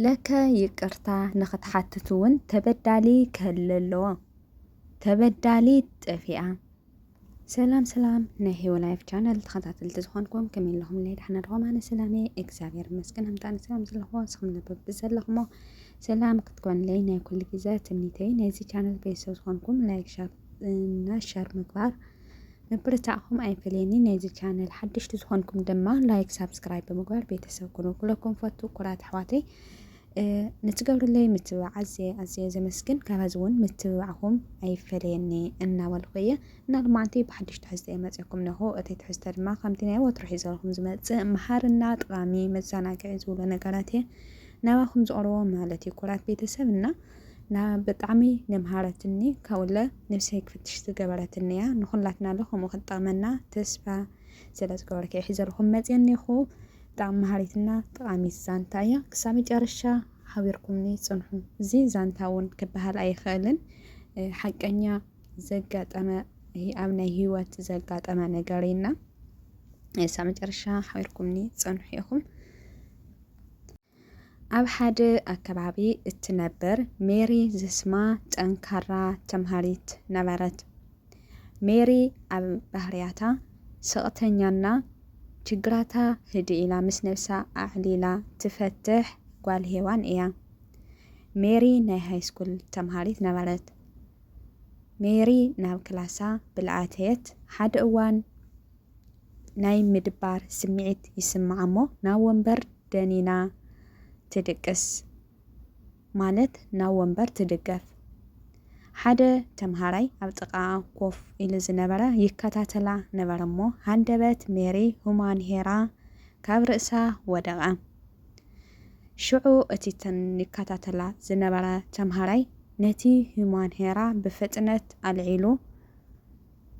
ለከ ይቅርታ ንክትሓትት እውን ተበዳሊ ክህሊ ኣለዎ ተበዳሊት ጠፊኣ። ሰላም ሰላም ናይ ሂወ ላይፍ ቻነል ተኸታተልቲ ዝኾንኩም ከመይ ኣለኹም ለይ ዳሕና ድኹም ኣነ ሰላም እየ እግዚኣብሔር ይመስገን ኣምጣኒ ሰላም ዘለኹዎ ንስኹም ነበብ ብዘለኹሞ ሰላም ክትኮንለይ ናይ ኩሉ ግዜ ትምኒተይ ናይዚ ቻነል ቤተሰብ ዝኾንኩም ላይክ ሻር እና ሻር ምግባር ምብርታዕኩም ኣይፈለየኒ ናይዚ ቻነል ሓደሽቲ ዝኾንኩም ድማ ላይክ ሳብስክራይብ ብምግባር ቤተሰብ ኩኑ ኩለኩም ፈቱ ኩራት ኣሕዋተይ ንትገብርለይ ምትብባዕ ኣዝየ ኣዝየ ዘመስግን ካብዚ እውን ምትብባዕኹም ኣይፈለየኒ እናበልኩ እየ እና ልማዓንቲ ብሓድሽ ትሕዝተ እየ መፅኩም ነኹ እቲ ትሕዝተ ድማ ከምቲ ናይ ወትሮ ሒዘልኩም ዝመፅእ መሃርና ጠቓሚ መዘናግዒ ዝብሎ ነገራት እየ ናባኹም ዝቕርቦ ማለት እዩ ኩራት ቤተሰብ እና ና ብጣዕሚ ነምሃረትኒ ካብኡለ ነብሰይ ክፍትሽ ዝገበረትኒ እያ ንኩላትና ለ ከምኡ ክትጠቅመና ተስፋ ስለ ዝገበርክ ሒዘልኩም መፅየ እኒኹ ብጣዕሚ መሃሪትና ጠቃሚት ዛንታ እያ ክሳብ መጨረሻ ሓቢርኩምኒ ፅንሑ እዚ ዛንታ እውን ክበሃል ኣይኽእልን ሓቀኛ ዘጋጠመ ኣብ ናይ ህይወት ዘጋጠመ ነገር እዩና ክሳብ መጨረሻ ሓቢርኩምኒ ፅንሑ ኢኹም ኣብ ሓደ ኣከባቢ እትነብር ሜሪ ዝስማ ጠንካራ ተምሃሪት ነበረት። ሜሪ ኣብ ባህርያታ ስቕተኛና ችግራታ ህድእ ኢላ ምስ ነብሳ ኣዕሊላ ትፈትሕ ጓል ሄዋን እያ። ሜሪ ናይ ሃይስኩል ተምሃሪት ነበረት። ሜሪ ናብ ክላሳ ብልኣተየት ሓደ እዋን ናይ ምድባር ስምዒት ይስምዓ'ሞ ናብ ወንበር ደኒና ትድቅስ ማለት ናብ ወንበር ትድገፍ። ሓደ ተምሃራይ ኣብ ጥቓኣ ኮፍ ኢሉ ዝነበረ ይከታተላ ነበረ'ሞ ሃንደበት ሜሪ ሁማንሄራ ካብ ርእሳ ወደቐ። ሽዑ እቲ ይከታተላ ዝነበረ ተምሃራይ ነቲ ሁማንሄራ ብፍጥነት ኣልዒሉ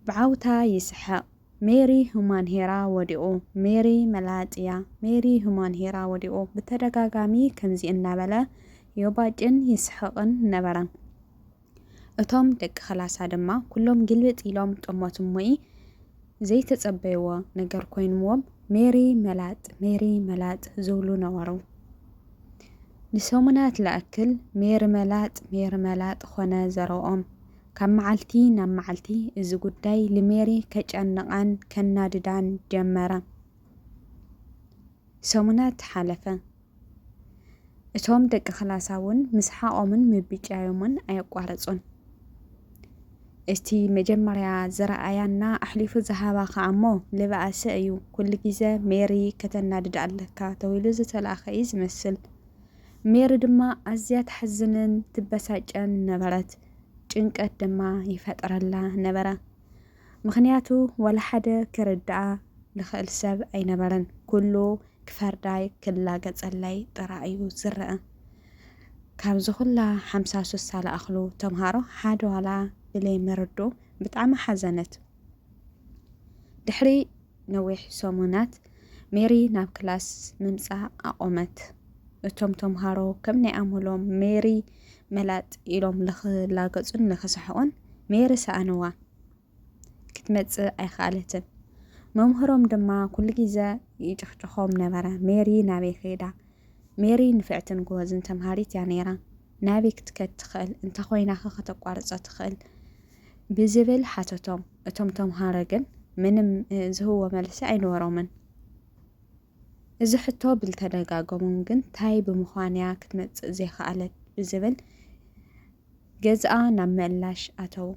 ብዓውታ ይስሕቕ። ሜሪ ሁማን ሄራ ወዲቁ ሜሪ መላጽያ ሜሪ ሁማን ሄራ ወዲቁ ብተደጋጋሚ ከምዚ እናበለ ዮባጭን ይስሕቕን ነበረ። እቶም ደቂ ክላሳ ድማ ኩሎም ግልብጥ ኢሎም ጠሞት እሞኢ ዘይተጸበይዎ ነገር ኮይንዎም ሜሪ መላጥ ሜሪ መላጥ ዝብሉ ነበሩ። ንሰሙናት ልኣክል ሜሪ መላጥ ሜሪ መላጥ ኮነ ዘረብኦም። ካብ መዓልቲ ናብ መዓልቲ እዚ ጉዳይ ልሜሪ ከጨንቓን ከናድዳን ጀመረ። ሰሙናት ሓለፈ። እቶም ደቂ ክላሳ እውን ምስሓቖምን ምብጫዮምን ኣየቋረጹን። እቲ መጀመርያ ዝረኣያና ኣሕሊፉ ዝሃባ ከኣ እሞ ልበኣሰ እዩ፣ ኩሉ ግዜ ሜሪ ከተናድድ ኣለካ ተብሂሉ ዝተላእከ እዩ ዝመስል። ሜሪ ድማ ኣዝያ ትሓዝንን ትበሳጨን ነበረት። ጭንቀት ድማ ይፈጥረላ ነበረ። ምኽንያቱ ዋላ ሓደ ክርድኣ ልኽእል ሰብ ኣይነበረን፣ ኩሉ ክፈርዳይ ክላገጸለይ ጥራይ'ዩ ዝረኣ። ካብዚ ኩላ ሓምሳ ሱሳ ልኣኽሉ ተምሃሮ ሓደ ዋላ ብለይምርድኡ ብጣዕሚ ሓዘነት። ድሕሪ ነዊሕ ሰሙናት፣ ሜሪ ናብ ክላስ ምምጻእ ኣቖመት። እቶም ተምሃሮ ከም ናይ ኣምሎም ሜሪ መላጥ ኢሎም ልኽላገጹን ልኽስሕቑን፣ ሜሪ ሰኣንዋ። ክትመጽእ ኣይኸኣለትን። መምህሮም ድማ ኩሉ ግዘ ይጭኽጭኾም ነበረ፣ ሜሪ ናበይ ከይዳ? ሜሪ ንፍዕትን ጎበዝን ተምሃሪት እያ ነይራ። ናበይ ክትከድ ትኽእል? እንተ ኾይናኸ ከተቋርጾ ትኽእል? ብዝብል ሓተቶም። እቶም ተምሃሮ ግን ምንም ዝህብዎ መልሲ ኣይነበሮምን። እዚ ሕቶ ብልተደጋገሞም ግን ታይ ብምዃን እያ ክትመጽእ ዘይከኣለት ብዝብል ገዝኣ ናብ ምእላሽ ኣተዉ።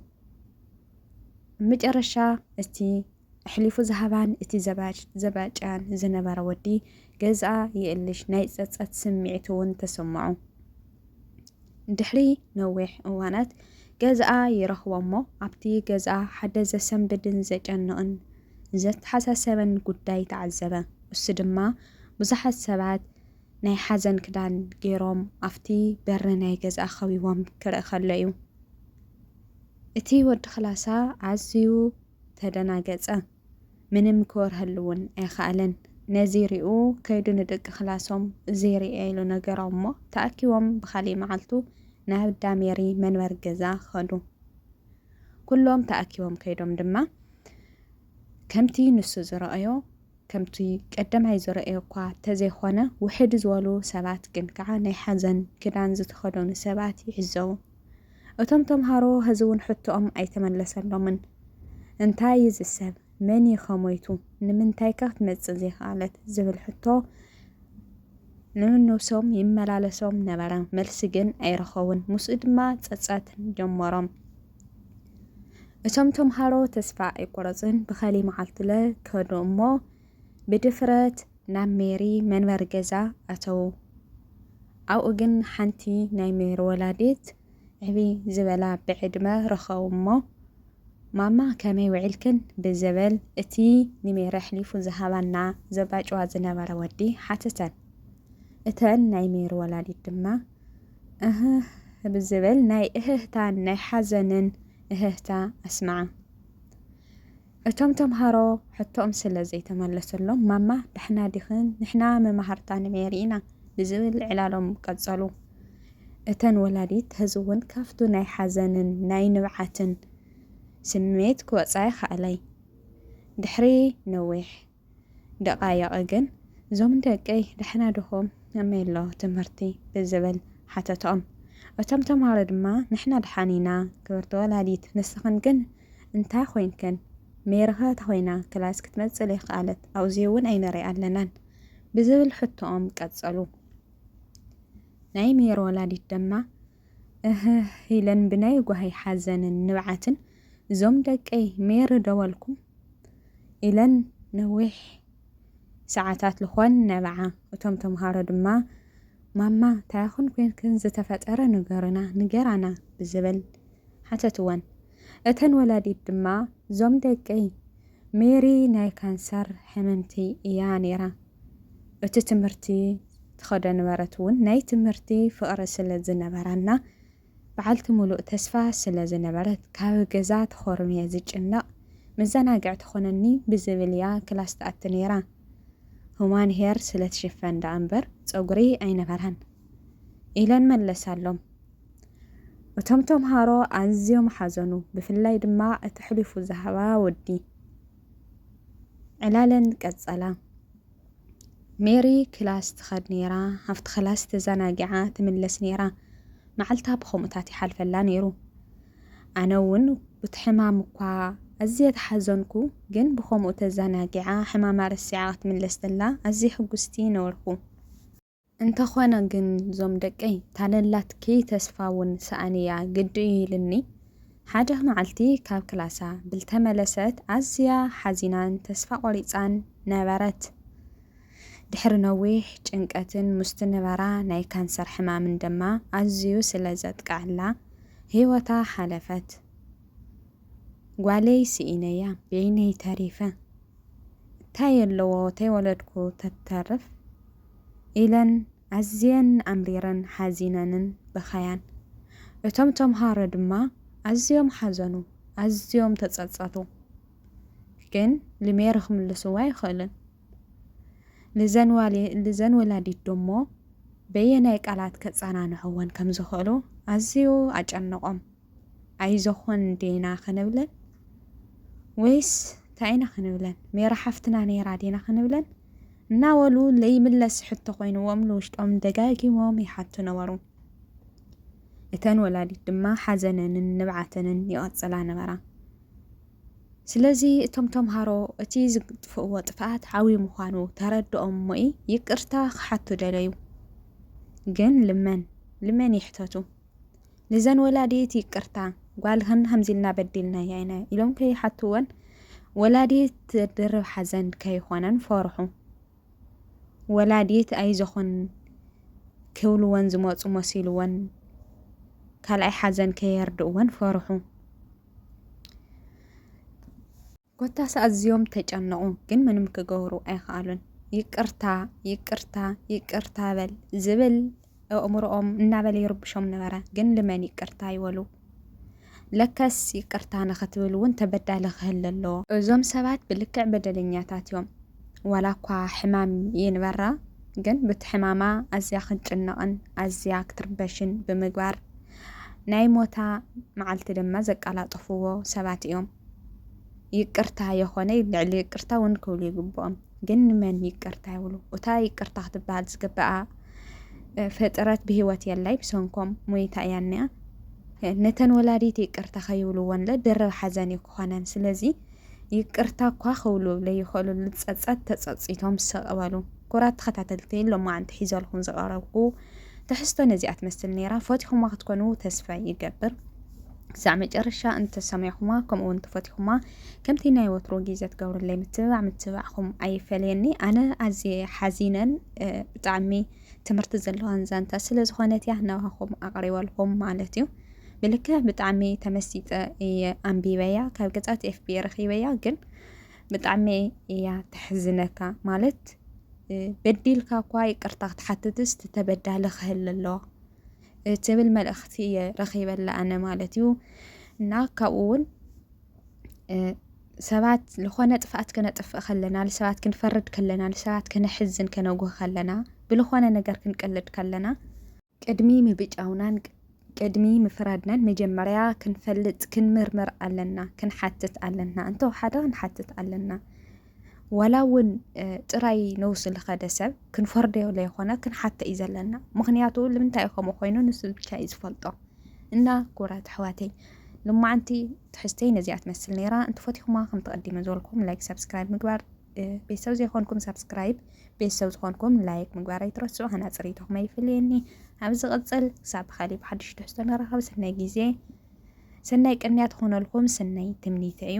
መጨረሻ እቲ ኣሕሊፉ ዝሃባን እቲ ዘባጭያን ዝነበረ ወዲ ገዝኣ የእልሽ ናይ ጸጸት ስምዒት እውን ተሰምዖ። ድሕሪ ነዊሕ እዋናት ገዝኣ ይረኽቦ እሞ ኣብቲ ገዝኣ ሓደ ዘሰንብድን ዘጨንቕን ዘተሓሳሰበን ጉዳይ ተዓዘበ። እሱ ድማ ብዙሓት ሰባት ናይ ሓዘን ክዳን ገይሮም ኣብቲ በሪ ናይ ገዝኣ ከቢቦም ክርኢ ከሎ እዩ። እቲ ወዲ ክላሳ ኣዝዩ ተደናገጸ። ምንም ክበርሀሉ እውን ኣይኸኣለን። ነዚ ሪኡ ከይዱ ንደቂ ክላሶም እዚ ሪኤ ኢሉ ነገሮም እሞ ተኣኪቦም ብኻልእ መዓልቱ ናብ እንዳ ሜሪ መንበሪ ገዛ ከዱ። ኩሎም ተኣኪቦም ከይዶም ድማ ከምቲ ንሱ ዝረኣዮ ከምቲ ቀደማይ ዝረኣዮ እኳ ተዘይኮነ ውሕድ ዝበሉ ሰባት ግን ከዓ ናይ ሓዘን ክዳን ዝተኸደኑ ሰባት ይዕዘቡ። እቶም ተምሃሮ ህዚውን ሕቶኦም ኣይተመለሰሎምን። እንታይ እዩ እዚ ሰብ? መን እዩ ከ ሞይቱ? ንምንታይ ከ ክትመጽእ ዘይከኣለት? ዝብል ሕቶ ንንብሶም ይመላለሶም ነበረ። መልሲ ግን ኣይረኸቡን። ምስኡ ድማ ጸጸት ጀመሮም። እቶም ተምሃሮ ተስፋ ኣይቆረጽን። ብኸሊ መዓልትለ ከዱ እሞ ብድፍረት ናብ ሜሪ መንበሪ ገዛ ኣተዉ። ኣብኡ ግን ሓንቲ ናይ ሜሪ ወላዲት ዕብይ ዝበላ ብዕድመ ረኸቡ እሞ፣ ማማ ከመይ ውዒልክን? ብዝብል እቲ ንሜሪ ኣሕሊፉ ዝሃባና ዘባጭዋ ዝነበረ ወዲ ሓተተን። እተን ናይ ሜሪ ወላዲት ድማ እህህ ብዝብል ናይ እህህታን ናይ ሓዘንን እህህታ ኣስምዓ። እቶም ተምሃሮ ሕቶኦም ስለ ዘይተመለሰሎም ማማ ዳሕና ዲኽን ንሕና መማህርታ ንሜሪ ኢና ብዝብል ዕላሎም ቀጸሉ። እተን ወላዲት ሐዚ'ውን ካብቱ ናይ ሓዘንን ናይ ንብዓትን ስምዒት ክወጻ ይኻእላይ ድሕሪ ነዊሕ። ደቓይቕ ግን ዞም ደቀይ ዳሕና ድኹም ከመይሎ ትምህርቲ ብዝብል ሓተቶም እቶም ተምሃሮ ድማ ንሕና ድሓን ኢና ክብርቲ ወላዲት ንስኽን ግን እንታይ ኮይንክን ሜሪካ ተኾይና ክላስ ክትመጽእ ለይክኣለት ኣውዚውን ኣይንሪኣ ኣለናን ብዝብል ሕቶኦም ቀጸሉ ናይ ሜሪ ወላዲት ድማ እህህ ኢለን ብናይ ጓሂ ሓዘንን ንብዓትን እዞም ደቀይ ሜሪ ደወልኩም ኢለን ነዊሕ ሰዓታት ልኾን ነብዓ። እቶም ተምሃሮ ድማ ማማ ታይኹን ኮይንክን ዝተፈጠረ ንገሩና ንገራና ብዝብል ሓተትወን። እተን ወላዲት ድማ እዞም ደቀይ ሜሪ ናይ ካንሰር ሕምምቲ እያ ነይራ። እቲ ትምህርቲ ትኸዶ ነበረት እውን ናይ ትምህርቲ ፍቕሪ ስለ ዝነበራና በዓልቲ ምሉእ ተስፋ ስለ ዝነበረት፣ ካብ ገዛ ተኾርምየ ዝጭነቕ፣ መዘናግዒ ትኾነኒ ብዝብል እያ ክላስ ትኣቲ ነይራ። ሁማን ሄር ስለ ትሽፈን ደኣ እምበር ጸጉሪ ኣይነበራን። ኢለን መለሳሎም። እቶም ተምሃሮ ኣዝዮም ሓዘኑ፣ ብፍላይ ድማ እቲ ሕሊፉ ዝሃባ ወዲ። ዕላለን ቀጸላ። ሜሪ ክላስ ትኸድ ነይራ፣ ኣብቲ ክላስ ተዛናጊዓ ትምለስ ነይራ፣ መዓልታ ብኸምኡታት ይሓልፈላ ነይሩ። ኣነ እውን ቡቲ ሕማም እኳ ኣዝየ ተሓዘንኩ፣ ግን ብኸምኡ ተዛናጊዓ ሕማማ ረሲዓ ክትምለስ ተላ ኣዝየ ሕጉስቲ ነበርኩ። እንተኾነ ግን ዞም ደቀይ ታለላት ክይ ተስፋ ውን ሰኣነያ ግዲ እዩ ኢልኒ ሓደ መዓልቲ ካብ ክላሳ ብልተመለሰት ኣዝያ ሓዚናን ተስፋ ቆሪጻን ነበረት ድሕሪ ነዊሕ ጭንቀትን ሙስቲ ንበራ ናይ ካንሰር ሕማምን ደማ ኣዝዩ ስለ ዘጥቅዐላ ሂወታ ሓለፈት ጓለይ ስኢነያ በይነይ ተሪፈ። እታይ ኣለዎ ተይወለድኩ ተትተርፍ ኢለን ኣዝየን ኣምሪረን ሓዚነንን በኸያን። እቶም ተምሃሮ ድማ ኣዝዮም ሓዘኑ ኣዝዮም ተጸጸቱ ግን ልሜሪ ክምልስዎ ኣይኽእልን ልዘን ወላዲት ደሞ በየናይ ቃላት ከጸናንዕወን ከምዝኽእሉ ኣዝዩ ኣጨነቆም። ኣይዞኾን እንዴና ክንብለን ወይስ ታይ ኢና ክንብለን ሜራ ሓፍትና ነይራ ዴና ክንብለን እናበሉ ለይምለስ ሕቶ ኮይንዎም ንውሽጦም ደጋጊሞም ይሓቱ ነበሩ። እተን ወላዲት ድማ ሓዘነንን ንብዓተንን ይቐጽላ ነበራ። ስለዚ እቶም ተምሃሮ እቲ ዝጥፍእዎ ጥፍኣት ዓብዪ ምዃኑ ተረድኦም እሞኢ ይቅርታ ክሓቱ ደለዩ። ግን ልመን ልመን ይሕተቱ ንዘን ወላዲት ይቅርታ ጓልክን ከምዚ ኢልና በዲልናያ ኢና ኢሎም ከይሓትወን ወላዲት ድርብ ሓዘን ከይኾነን ፈርሑ ወላዲት ኣይዞኹን ክብልወን ዝመፁ መሲልወን ካልኣይ ሓዘን ከየርድእወን ፈርሑ። ኮታስ ኣዝዮም ተጨነቑ ግን ምንም ክገብሩ ኣይኸኣሉን። ይቅርታ ይቅርታ ይቅርታ በል ዝብል ኣእምሮኦም እናበለ ይርብሾም ነበረ። ግን ልመን ይቅርታ ይበሉ። ለከስ ይቅርታ ንኽትብል እውን ተበዳሊ ክህሊ ኣለዎ። እዞም ሰባት ብልክዕ በደለኛታት እዮም። ዋላ እኳ ሕማም ይንበራ ግን ብቲ ሕማማ ኣዝያ ክንጭነቕን ኣዝያ ክትርበሽን ብምግባር ናይ ሞታ መዓልቲ ድማ ዘቀላጠፍዎ ሰባት እዮም። ይቅርታ የኾነይ ልዕሊ ይቅርታ እውን ክብሉ ይግብኦም። ግን ንመን ይቅርታ ይብሉ? እታ ይቅርታ ክትበሃል ዝግበኣ ፍጥረት ብሂወት የላይ ብሰንኮም ሞይታ እያ እኒኣ። ነተን ወላዲት ይቅርታ ከይብልዎንለ ድርብ ሓዘን እዩ ክኾነን። ስለዚ ይቅርታ እኳ ክብሉ ለይኽእሉ ልፀፀት ተፀፂቶም ሰቕበሉ ኩራት ተኸታተልቲ ሎማዓንቲ ሒዘልኹም ዝቐረብኩ ትሕዝቶ ነዚኣ ትመስል ነይራ። ፈቲኹማ ክትኮኑ ተስፋ ይገብር። ክሳዕ መጨረሻ እንተ ሰሚዕኹማ ከምኡውን እንተፈቲኹማ ከምቲ ናይ ወትሩ ግዜ ትገብርለይ ምትብባዕ ምትብባዕኹም ኣይፈለየኒ ኣነ ኣዝየ ሓዚነን ብጣዕሚ ትምህርቲ ዘለዋን ዛንታ ስለ ዝኾነት እያ ናባኹም ኣቕሪበልኩም ማለት እዩ ብልከ ብጣዕሚ ተመሲጠ እየ ኣንቢበያ ካብ ገጻት ኤፍቢ ረኺበያ ግን ብጣዕሚ እያ ተሕዝነካ ማለት በዲልካ እኳ ይቅርታ ክትሓትትስ ተበዳሊ ክህል ኣለዋ እትብል መልእኽቲ እየ ረኺበላ ኣነ ማለት እዩ እና ካብኡ እውን ሰባት ዝኾነ ጥፍኣት ከነጥፍእ ከለና ንሰባት ክንፈርድ ከለና ንሰባት ከነሕዝን ከነጉህ ከለና ብልኾነ ነገር ክንቀልድ ከለና ቅድሚ ምብጫውናን ቅድሚ ምፍራድናን መጀመርያ ክንፈልጥ ክንምርምር ኣለና ክንሓትት ኣለና እንተወሓደ ክንሓትት ኣለና ዋላ እውን ጥራይ ነውሲ ዝኸደ ሰብ ክንፈርዶ ዘይኮነ ክንሓተ እዩ ዘለና ምክንያቱ ልምንታይ እዩ ከምኡ ኮይኑ ንሱ ብቻ እዩ ዝፈልጦ እና ክቡራት ኣሕዋተይ ልማዓንቲ ትሕዝተይ ነዚኣ ትመስል ነይራ እንትፈትኹማ ከም ተቐዲመ ዝበልኩም ላይክ ሰብስክራይብ ምግባር ቤተሰብ ዘይኮንኩም ሰብስክራይብ ቤተሰብ ዝኾንኩም ላይክ ምግባር ኣይትረስዑ ሃና ፅሪቶኹም ኣይፍልየኒ ኣብ ዝቕፅል ክሳብ ብካሊእ ብሓድሽ ትሕዝቶ ንራኸብ ሰናይ ግዜ ሰናይ ቅንያ ትኾነልኩም ሰናይ ትምኒተ እዩ